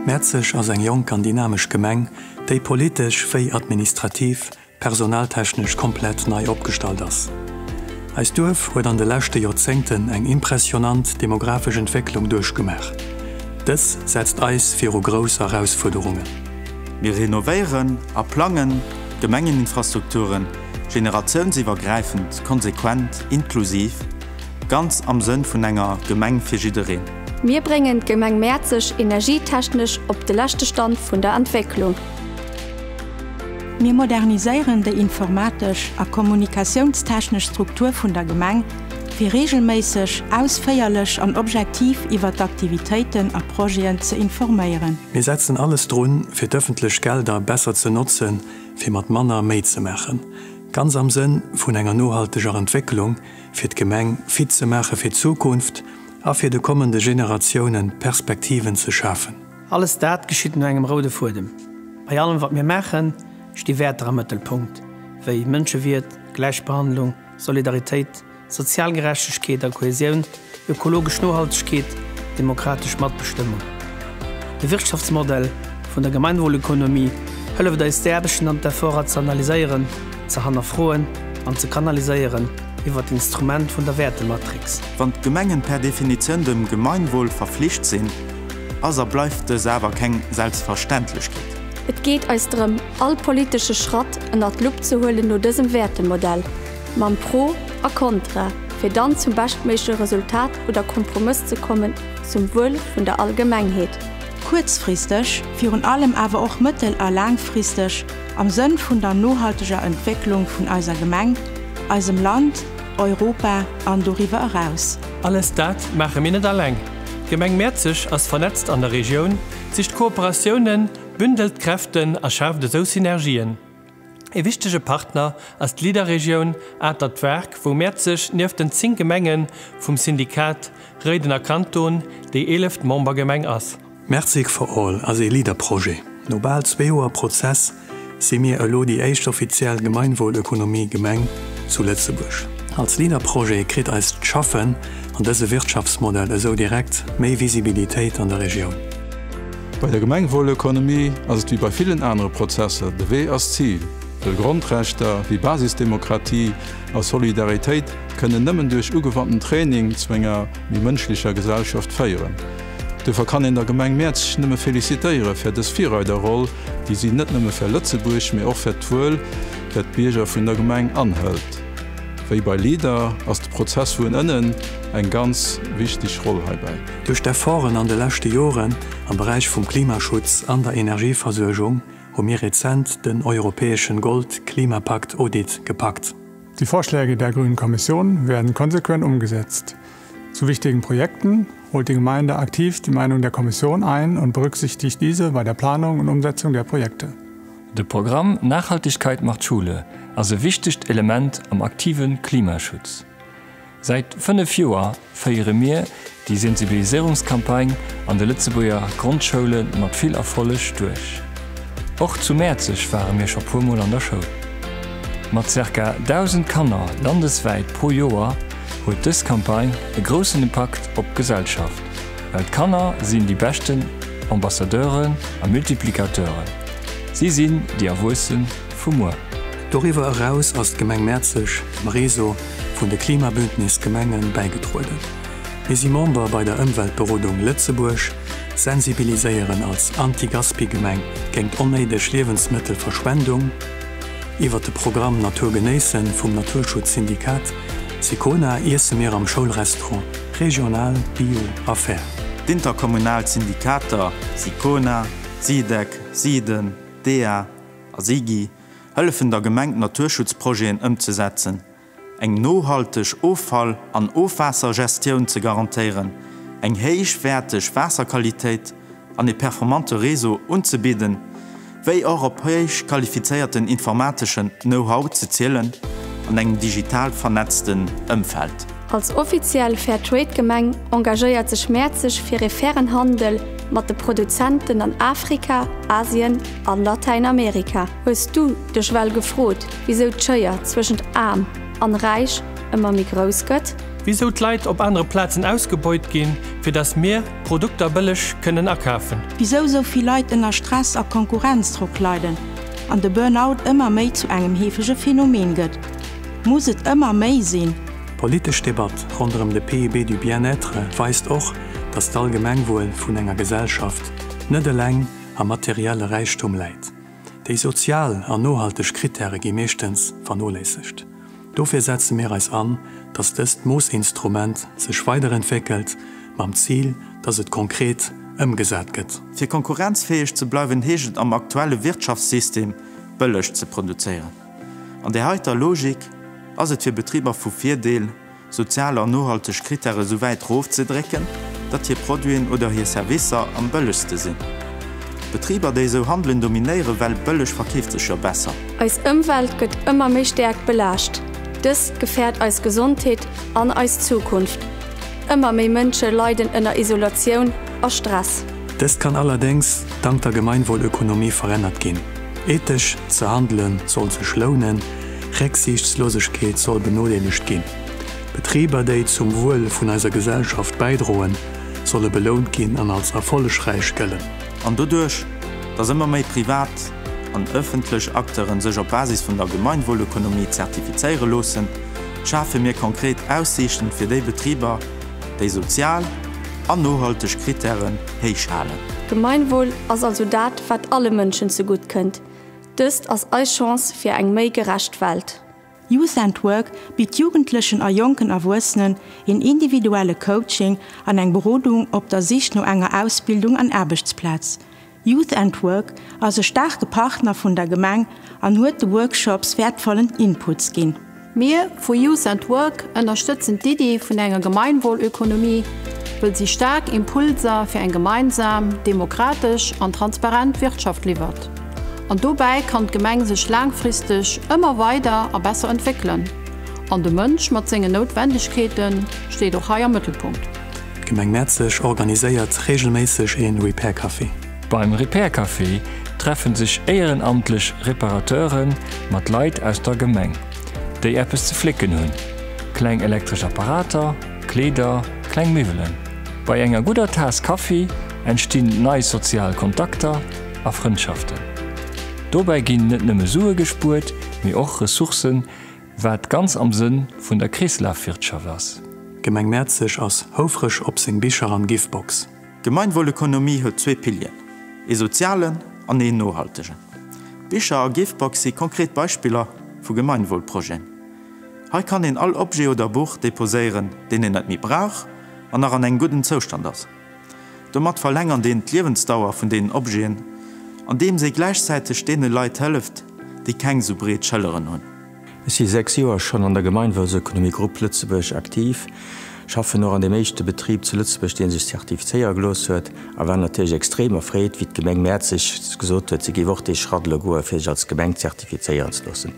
Mäerzeg ass eng jonk an dynamesch Gemeng, déi politesch wéi administrativ, personaltechnesch komplett nei opgestallt ass. Eist Duerf huet an de leschte Joerzéngten eng impressionant demografesch Entwécklung duerchgemaach. Dës setzt eis viru grouss Erausfuerderungen. Mir renovéieren a plangen. Gemengeninfrastrukturen, generatiounsiwwergräifend, konsequent, inklusiv, ganz am Sënn vun enger Gemeng fir jiddereen. Mir bréngen d'Gemeng Mäerzeg energietechnesch op de leschte Stand vun der Entwécklung. Mir moderniséieren déi informatesch a kommunikatiounstechnesch Struktur vun der Gemeng, fir reegelméisseg, ausféierlech an objektiv iwwer d'Aktivitéiten a Projeten ze informéieren. Mir setzen alles drun, fir d'ëffentlech Gelder besser ze notzen, fir mat manner méi ze maachen, ganz am Sënn vun enger nohalteger Entwécklung, fir d'Gemeng fit ze maache fir d'Zukunft a fir de kommende Generatiounen Perspektiven ze schafen. Alles dat geschitt no engem roude Fuedem. Bei allem, wat mir maachen, sti Wäerter am Mëttelpunkt, wéi Mënschewiert, Gläichbehandlung, Solidaritéit Sozial Gerechtegkeet a Kohäsioun, ökologesch Nohaltegkeet, demokratesch Matbestëmmung. De Wirtschaftsmodell vun der Gemeinwohlökonomie hëlleft eis d'Aarbechten an d'Efforter ze analyséieren, ze hannerfroen an ze kanaliséieren iwwert d'Instrument vun der Wäertematrix. Wann d'Gemengen per Definitioun dem Gemeinwohl verflicht sinn, ass a bleift dës awer keng Selbstverständlechkeet. Et geet eis drëm, all politesche Schratt ënnert d'Lupp ze huelen no dësem Wäertemodell. Mam Pro a Kontra, fir dann zum beschtméigleche Resultat oder Kompromëss ze kommen zum Wuel vun der Allgemengheet. Kuerzfristeg, virun allem awer och mëttel a laangfristeg, am Sënn vun der nohalteger Entwécklung vun eiser Gemeng, eisem Land, Europa an doriwwer eraus. Alles dat maache mir net alleng. D'Gemeng Mäerzeg ass vernetzt an der Regioun, sicht Kooperatiounen, bündelt Kräften a schaaft esou Synergien. Ee wichtege Partner ass d'Leader-Regioun Atert Wark, wou Mäerz sech nieft den 10 Gemenge vum Syndikat Réidener Kanton déi eeleft Membergemeng ass. Mertzig for All ass ee Leader-Projet. No bal zwee Joer Prozess si mir elo déi éischt offiziell Gemeinwohlökonomie-Gemeng zu Lëtzebuerg. Als Leader-Projet kritt eist Schaffen an dëse Wirtschaftsmodell esou direkt méi Visibilitéit an der Regioun. Bei der Gemengwuelökonomie ass et wéi bei villen anere Prozesser, de Wee ass d'Zil, well Grondrechter wéi Basisdemokratie a Solidaritéit kënnen nëmmen duerch ugewandten Training zu enger méi mënschlecher Gesellschaft féieren. Duerfir kann een der Gemeng Mäerzeg nëmme felicitéiere fir dës Virreiderroll, déi si net nëmme fir Lëtzebuerg, mee och fir d'Wuel fir d'Bierger vun der Gemeng anhëlt. Wéi bei LEADER ass de Prozess vun ënnen eng ganz wichteg Roll heibäi. Duerch d'Efforten an de leschte Joren am Beräich vum Klimaschutz an der Energieversuergung hu mir rezent den europäeschen Gold-Klimapakt Audit gepackt. Die Vorschläge der Grünen Kommission werden konsequent umgesetzt. Zu wichtigen Projekten holt die Gemeinde aktiv die Meinung der Kommission ein und berücksichtigt diese bei der Planung und Umsetzung der Projekte. De Programm Nachhaltigkeit macht Schule ass e wichtegt Element am aktive Klimaschutz. Säit 5 Joer féiere mir déi Sensibiliséierungscampagne an de Lëtzebuerger Grondschoulen mat vill Erfolleg duerch. Och zu Mäerzeg ware mir scho puer Mol an der Schoul. Mat zirka 1.000 Kanner landeswäit pro Joer huet dës Campagne e groussen Impakt op d'Gesellschaft, well d'Kanner sinn déi beschten Ambassadeuren a Multiplicateuren, si sinn déi Erwuessen, vu muer. Doriwwer eraus ass d'Gemeng Mäerzeg dem Réseau vun de Klimabündnis Gemenge bäigedrueden. Mir si Member bei der Ëmweltberodung Lëtzebuerg, sensibiliséieren als Anti-Gaspi-Gemeng géingt onnéideg Liewensmëttelverschwendung. Iwwer de Programm Natur genéissen vum Naturschutzsyndikat Sicona iesse mir am Schoulrestaurant regional, bio a fair. D'Interkommunal Syndikater Sicona, Sidec, Siden, dea, A si gi hëllefen der Gemeng d'Naturschutzprojeten ëmzesetzen, eng nohalteg Offall an Ofwaassergestioun ze garantéieren, eng héichwäerteg Waasserqualitéit an e performante Réseau unzebidden, wéi och op héich qualifizéierten informateschen Know-how ze zielen an engem digital vernetzten Ëmfeld. Als offiziell Fairtrade-Gemeng engagéiert sech Mäerzeg fir ee fairen Handel mat de Produzenten an Afrika, Asien an Latäinamerika. Hues du dech well gefrot, wisou d'Schéier zwëschent Aarm an Räich ëmmer méi grouss gëtt? Wisou d'Leit op anere Plazen ausgebeut ginn, fir dass mir d'Produkter bëlleg kënnen akafen? Wisou sou vill Leit ënner Stress a Konkurrenzdrock leiden an de Burnout ëmmer méi zu engem heefege Phänomen gëtt? Muss et ëmmer méi sinn? D'politesch Debatt ronderëm de PIB du bien-être weist och, datt d'Allgemengwuel vun enger Gesellschaft net eleng am materielle Räichtum läit. Déi sozial an nohalteg Krittäre gi meeschtens vernoléissegt. Dofir setze mir eis an, datt dëst Moossinstrument sech weiderentwéckelt, mam Zil, datt et konkret ëmgesat gëtt. Fir konkurrenzfäeg ze bleiwen, heescht et am aktuelle Wirtschaftssystem, bëlleg ze produzéieren. An där heiter Logik ass et fir Betriber vu Virdeel, sozial an nohalteg Krittäre sou wäit rofzedrécken, datt hir Produiten oder hir Servicer am bëllegste sinn. Betriber, déi esou handelen, dominéieren, well bëlleg verkeeft sech jo besser. Eis Ëmwelt gëtt ëmmer méi stäerk belaascht. Dëst gefäert eis Gesondheet an eis Zukunft. Ëmmer méi Mënsche leiden ënner Isolatioun a Stress. Dëst kann allerdéngs dank der Gemeinwohlökonomie verännert ginn. Ethesch ze handelen soll sech lounen, Récksiichtslosegkeet soll benodeelegt ginn. Betriber, déi zum Wuel vun eiser Gesellschaft bäidroen, solle belount ginn an als erfollegräich gëllen. An doduerch, dass ëmmer méi privat an ëffentlech Acteuren sech op Basis vun der Gemeinwohlökonomie zertifizéiere loossen, schafe mir konkret Aussiichten fir déi Betriber, déi sozial an nohalteg Krittären héich halen. Gemeinwohl ass also dat, wat alle Mënschen zegutt kënnt. Dëst ass eis Chance fir eng méi gerecht Welt. Youth and Work bitt Jugendlechen a jonken Erwuessenen een individuelle Coaching an eng Berodung op der Sich no enger Ausbildung an Aarbechtsplaz. Youth and Work ass e staarke Partner vun der Gemeng an huet de Workshops wäertvollen Inputs ginn. Mir vu Youth and Work ënnerstëtzen d'Iddi vun enger Gemeinwohlökonomie, wëll si staark Impulser fir eng gemeinsam, demokratesch an transparent Wirtschaft liwwert. An dobäi kann d'Gemeng sech laangfristeg ëmmer weider a besser entwéckelen. An de Mënsch mat sengen Noutwendegkeete steet och hei am Mëttelpunkt. D'Gemeng Mäerzeg organiséiert reegelméisseg ee Repair-Café. Beim Repair-Café treffe sech éierenamtlech Reparateure mat Leit aus der Gemeng, déi eppes ze flécken hunn, kleng elektresch Apparater, Kleeder, kleng Miwwelen. Bei enger gudder Taass Kaffi entstinn nei sozial Kontakter a Frëndschaften. Dobäi ginn net nëmme Sue gespuert, mee och Ressourcen, Wat ganz am Sënn vun der Kreeslafwirtschaft ass. D'Gemeng Mäerzeg ass houfreg op seng Bicher an Givebox. D'Gemeinwohlökonomie huet zwee Pilieren, ee sozialen an een nohaltegen. D'Bicher a Givebox si konkret Beispiller vu Gemeinwohlprojeten. Hei kann een all Objet oder Buch deposéieren, deen een net méi brauch an nach an engem gudden Zoustand ass. Domat verlängert een d'Liewensdauer vun deenen Objeten, andeems ee gläichzäiteg deene Leit hëlleft, déi keng sou breet Schëlleren hunn. Ech si sechs Joer schonn an der Gemeinwohlsökonomie Grupp Lëtzebuerg aktiv, schaffen och an deem éischte Betrib zu Lëtzebuerg, dee sech zertifizéiere gelooss huet, a war natierlech extrem erfreet, wéi d'Gemeng Mäerzeg gesot huet, si géif och dee Schratt elo goen, fir sech als Gemeng zertifizéieren ze loossen.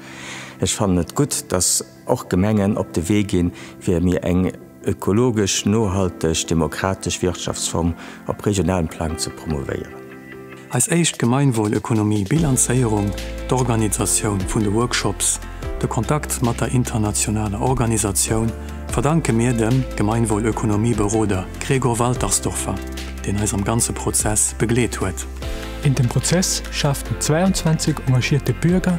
Ech fannen et gutt, dass. och d'Gemengen op de Wee ginn, fir mir eng ökologesch nohalteg demokratesch Wirtschaftsform op regionalem Plang ze promouvéieren. Eis éischt Gemeinwohlökonomie Bilanzéierung, d'Organisatioun vun de Workshops, de Kontakt mat der internationaler Organisatioun verdanke mir dem Gemeinwohlökonomieberoder Gregor Waltersdorfer, deen eis am ganze Prozess begleet huet. In dem Prozess schaaften 22 engagierte Bürger